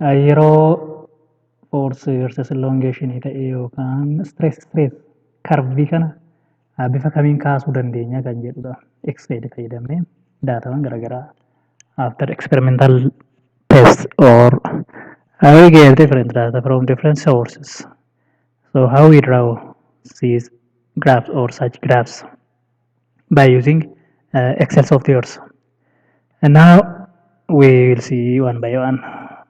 Yeroo force versus elongation ta'e yookaan stress stress karvii kana ah, bifa kamiin kaasuu dandeenya kan jedhudha. X-ray fayyadamnee daataawwan garaagaraa after experimental test or uh, we get different data from different sources. So how we draw these graphs or such graphs? by using uh, Excel softwares. And now we will see one by one.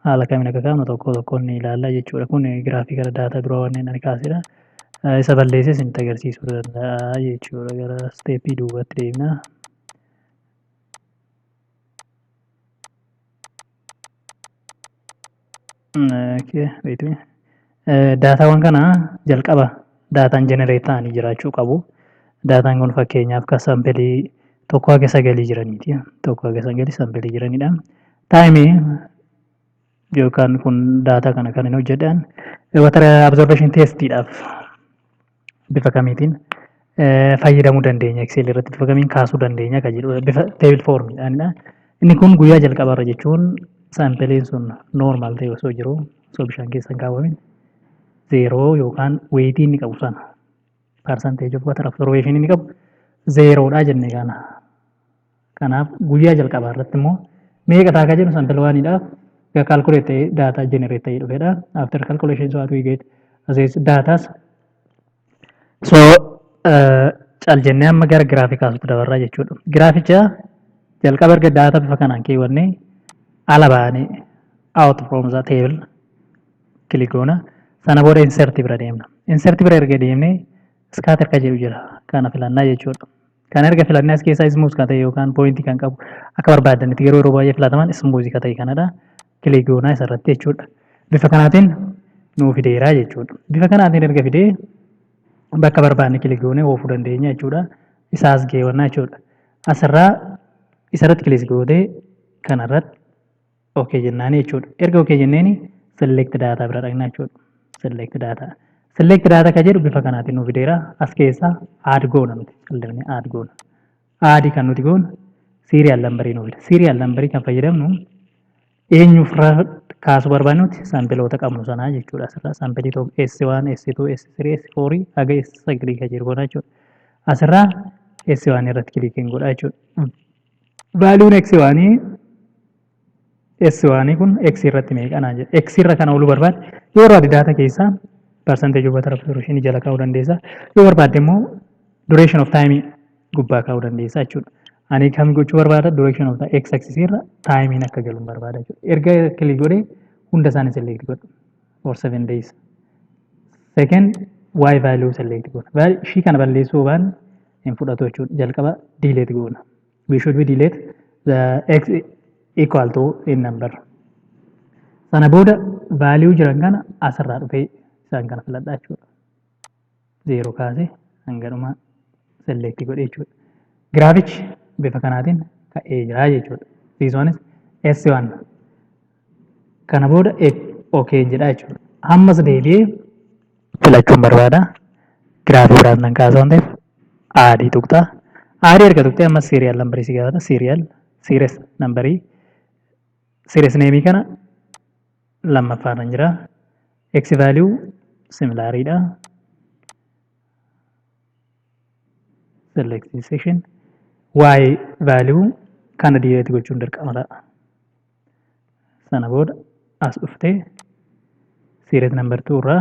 Haala kamiin akka kaa'amu tokko tokkoon ni ilaalla jechuudha. Kun giraafikala daataa dura wanneen ani kaasedha. Uh, Isa balleesses itti agarsiisuu danda'a jechuudha. Gara steepii duubatti deemna. Daataawwan kana jalqaba daataan jenereet ta'anii jiraachuu qabu. Daataan kun fakkeenyaaf kan saampiilii tokkoo haga sagalii jiraniiti. Tokkoo haga sagalii saampiilii jiranidha. Taayimii yookaan kun daataa kana kan hin hojjedhan waatara abzoorbeeshin teestiidhaaf. bifa kamiitiin fayyadamuu dandeenya Excel irratti bifa kamiin kaasuu dandeenya kan jedhu bifa table form dha. Inni kun guyyaa jalqaba irra jechuun saampiliin sun normal ta'e osoo jiru osoo bishaan keessa hin kaawwamin zeeroo yookaan weeyitii inni qabu sana percentage of water absorption inni qabu zeeroodha jenne kana. Kanaaf guyyaa jalqabaa irratti immoo meeqa ta'a akka jennu sample waan idhaaf ga calculate ta'ee data generate ta'ee dhufedha. After calculation so what we get as is datas. So uh, cal jennee amma gara giraafii kaasutti dabarraa jechuudha. Giraaficha jalqaba erga daataa bifa kanaan keewwannee ala baanee out from the table click goona. Sana booda insert bira deemna. Insert bira erga deemnee scatter ka jedhu jira. Kana filannaa jechuudha. Kan erga filanne as keessaa ismuuz kan ta'e yookaan pooyintii kan qabu akka barbaadanitti garuu yeroo baay'ee filataman ismuuzii kan ta'e kanadha. Kilik goonaa isarratti jechuudha. Bifa kanaatiin nuu fideeraa jechuudha. Bifa kanaatiin erga fidee bakka barbaadne kilik goonee oofuu dandeenya jechuudha. Isaa as geewannaa jechuudha. Asirraa isarratti kilik gootee kanarratti ok jennaanii jechuudha erga ok jenneeni select data bira dhaqna jechuudha select data select data ka jedhu bifa kanaatiin nu fideera as keessaa add goona nuti callisni add goona add kan nuti goonu serial number nu fida serial number kan fayyadamnu eenyuuf kaasuu barbaannuti sampiloota qabnu sanaa jechuudha asirraa sampilii tokko S1 S2 S3 S4 haga S9 kan jiru goona jechuudha asirraa S1 irratti kilikiin godha jechuudha Vaaluun x waanii s waanii kun x irratti meeqanaa jedhe x irra kana oolu barbaade yoo barbaade daata keessaa percentage of water absorption jala kaa'uu dandeessa yoo barbaade immoo duration of time gubbaa kaa'uu dandeessa jechuudha. Ani kam gochuu barbaada duration of x axis irra time akka galu barbaada jechuudha. Erga click godhee hunda isaanii select godhu. or 7 days second y value select goona Val- ishii kana balleessuu waan hin fudhatu jechuudha jalqaba delete goona we should be delete the x equal to in number sana booda value jiran kana asirraa dhufee isaan kana filadhaa jechuudha 0 kaase hanga dhumaa select godhe jechuudha. Giraafichi bifa kanaatiin ka'ee jira jechuudha. Siisoonis S1 kana booda OK jedha jechuudha. Ammas deebi'ee filachuun barbaada. Giraafii biraas nan kaasa waan ta'eef aadii tuqxa. Aadii erga tuqxee ammas siiriyaal nambarii si gaafata. Siiriyaal siires nambarii siires neemii kana lammaffaarran jira. X value similar dha. Select this section. Y value kana delete gochuun dirqama ta'a. Sana booda as dhuftee series number 2 irraa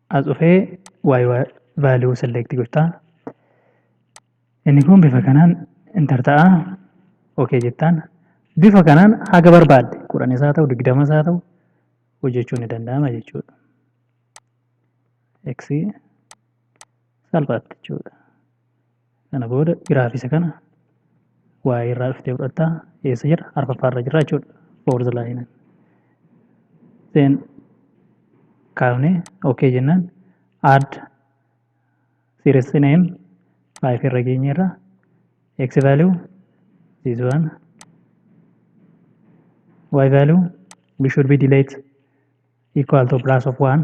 as dhufee y value select gotta inni kun bifa kanaan enter ta'a ok jettaan bifa kanaan haga barbaadde kudhan isaa ta'u digdama isaa ta'u hojjechuun ni danda'ama jechuudha. X salphaatti jechuudha. Kana booda giraafii isa kana waa'ee irraa dhuftee fudhatta. Eessa jira? Arfaffaa irra jira jechuudha. Fourth line. Then kaafne okay jennaan add series name five irra geenye irra x value this one y value we should be delete equal to plus of one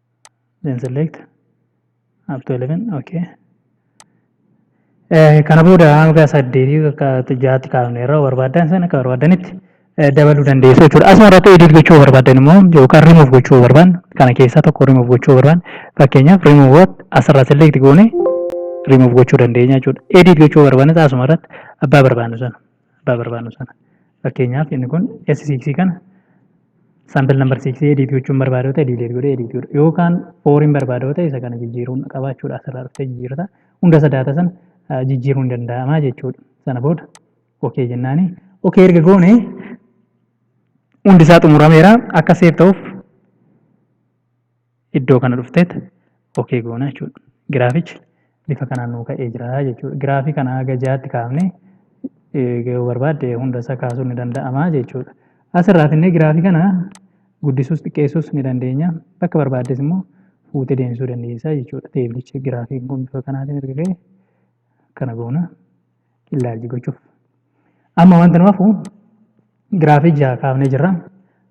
then select up to 11 okay Eh, kana booda hanga saddeetii akka jaatti kaafne irraa barbaadan sana akka barbaadanitti eh, dabaluu dandeessu jechuudha. Asuma irratti edit gochuu barbaadan immoo yookaan remove gochuu barbaadan kana keessaa tokko remove gochuu barbaadan fakkeenyaaf remove what asirraa select goone remove gochuu dandeenya jechuudha. Edit gochuu barbaadan asuma irratti abbaa barbaadnu sana. abbaa barbaannu sana. Fakkeenyaaf inni kun S6 kana sample number 6 edit gochuun barbaada yoo ta'e delete godhee edit godha. Yookaan fooriin barbaada yoo ta'e isa kana jijjiiruun qaba jechuudha. Asirraa dhuftee jijjiirrata. Hunda isa daata sana jijjiiruun danda'ama jechuudha. Sana booda OK jennaani. OK erga goone hundi isaa xumurameera akka seef ta'uuf iddoo kana dhufteet ok goona jechuudha. Giraafichi bifa kanaan nuu ka'ee jira jechuudha. Giraafii kana haga jaatti kaafnee yoo barbaadde hunda isaa kaasuun ni danda'ama jechuudha. Asirraa finnee giraafii kana guddisuus xiqqeessuus ni dandeenya. Bakka barbaaddes immoo fuutee deemsisuu dandeessa jechuudha. Teeblichi giraafiin kun bifa kanaatiin erga ga'e kana goona. illaalchi gochuuf. Amma wanta nu hafu giraafii jaha kaafnee jirra.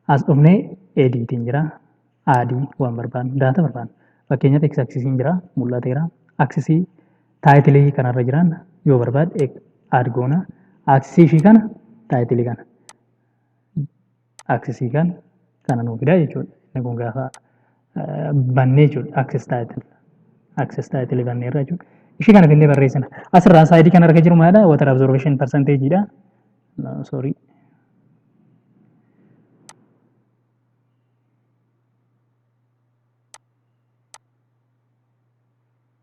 As dhufnee ediitiin jira. Aadii waan barbaannu daata barbaannu. Fakkeenyaaf x aksisiin jira mul'ateera. Aksisii taayitilii kanarra jiran yoo barbaad aad goona. Aksisii ishii kana taayitilii kana. access kan kana nuu fidaa jechuudha. Inni kun gaafa bannee jechuudha access title access title bannee irra jechuudha. Ishii kana finnee barreessina. Asirraa saayidii kana arga jiru maalidha? Water absorption percentage dha. No, sorry.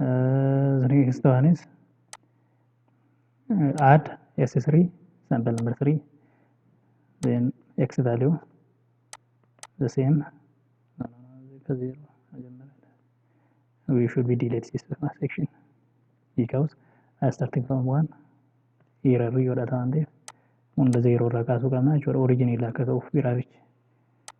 Uh, the next one is uh, add S3, sample number 3, then x value, the same, no, no, no, equal zero, መጀመሪያ we should be delete this section because uh, starting from 1 error yoo dha ta'an ta'eef hunda zeeroo irraa kaasuu qabna jechuudha originii irraa akka ka'uuf biraarichi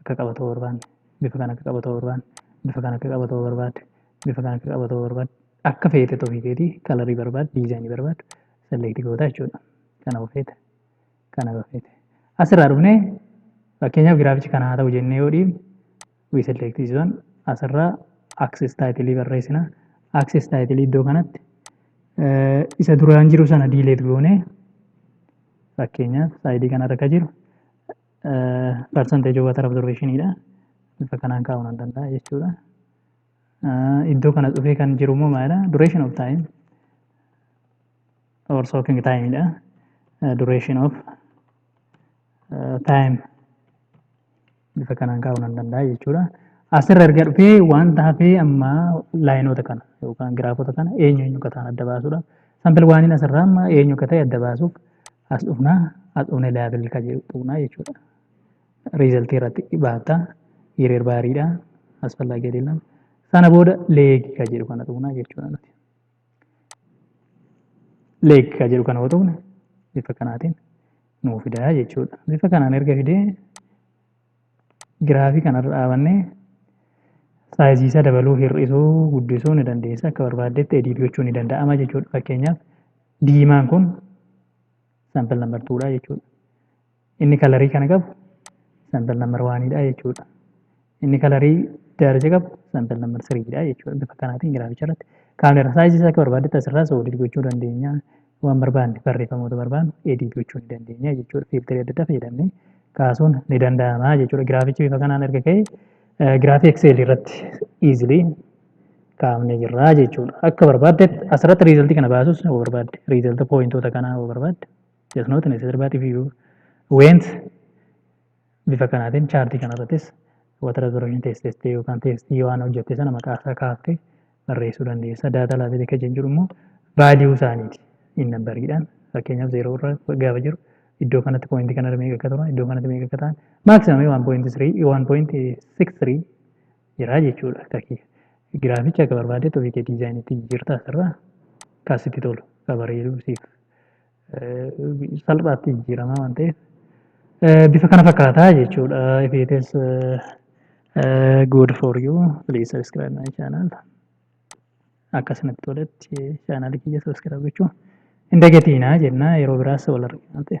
akka qabatuu barbaanne bifa kana akka qabatuu barbaanne bifa kana akka qabatuu barbaadde bifa kana akka qabatuu barbaadde akka feete ofii keetii kalarii barbaadde diizaayinii barbaadde selektii goota jechuudha kana ofeete kana ofeete asirraa dhufnee fakkeenyaaf giraafichi kana haa ta'u jennee yoo dhiibne wii selektii zon asirraa aksis taayitilii barreessina aksis taayitilii iddoo kanatti isa duraan jiru sana diileet goonee fakkeenyaaf saayidii kanarra akka jiru percentage of water absorption dha. Bifa kanaan kaa'uu nan danda'a jechuudha. Iddoo kana dhufee kan jiru immoo maalidha? Duration of time or soaking time dha. Duration of time bifa kanaan kaa'uu nan danda'a jechuudha. Asirra erga dhufee wanta hafee amma laayinoota kana yookaan giraafota kana eenyu eenyu akka ta'an adda baasuudha. Sampil waaniin asirraa amma eenyu akka ta'e adda baasuuf as dhufna as dhufne level ka jedhu tuqna jechuudha result irratti baafta hiriir baariidha asfallaa gadiillam sana booda leeg ka jedhu kana tuqna jechuudha nuti leeg ka jedhu kana yoo tuqne bifa kanaatiin nuu fidaa jechuudha bifa kanaan erga fidee giraafii kanarra dhaabannee saayiziisaa dabaluu hir'isuu guddisuu ni dandeessa akka barbaaddetti ediit gochuu ni danda'ama jechuudha fakkeenyaaf Diimaan kun sample number 2 dha jechuudha. Inni kalarii kana qabu sample number 1 dha jechuudha. Inni kalarii daalacha qabu sample number 3 dha jechuudha. Bifa kanaatiin giraaficha irratti kaameera saayizii akka barbaadetti asirraa soodid gochuu dandeenya. Waan barbaanne barreeffamoota barbaannu edit gochuu ni dandeenya jechuudha. Fiiltarii adda addaa fayyadamnee kaasuun ni danda'ama jechuudha. Giraafichi bifa kanaan erga ka'e giraafii Excel irratti easily kaafnee jirra jechuudha. Akka barbaaddetti asirratti riizaltii kana baasus yoo barbaadde riizalta pooyintoota kanaa yoo barbaadde just not necessary but if you went bifa kanaatiin chaartii kanarrattis wata reservation test test yookaan testii waan hojjette sana maqaa isaa kaaftee barreessuu dandeessa. Daataa laafee akka jennu jiru immoo vaaliyuu isaaniiti hin nambariidhaan fakkeenyaaf zeeroo irra gaafa jiru iddoo kanatti pooyintii kanarra meeqa akka turan iddoo kanatti meeqa akka ta'an maaksimamii waan pooyintii sirii waan pooyintii siks sirii jira jechuudha. Akka kee giraaficha akka barbaadetti ofii kee diizaayinitti jijjiirtaa asirraa kan sitti tolu kan bareedu siif salphaatti jijjiiramaa waan ta'eef bifa kana fakkaataa jechuudha. If it is good for you please subscribe my channel. Akkasumatti toletti chaanaalii kiyya subscribe gochuu hin dagatiinaa jennaa yeroo biraas wal argina ta'e.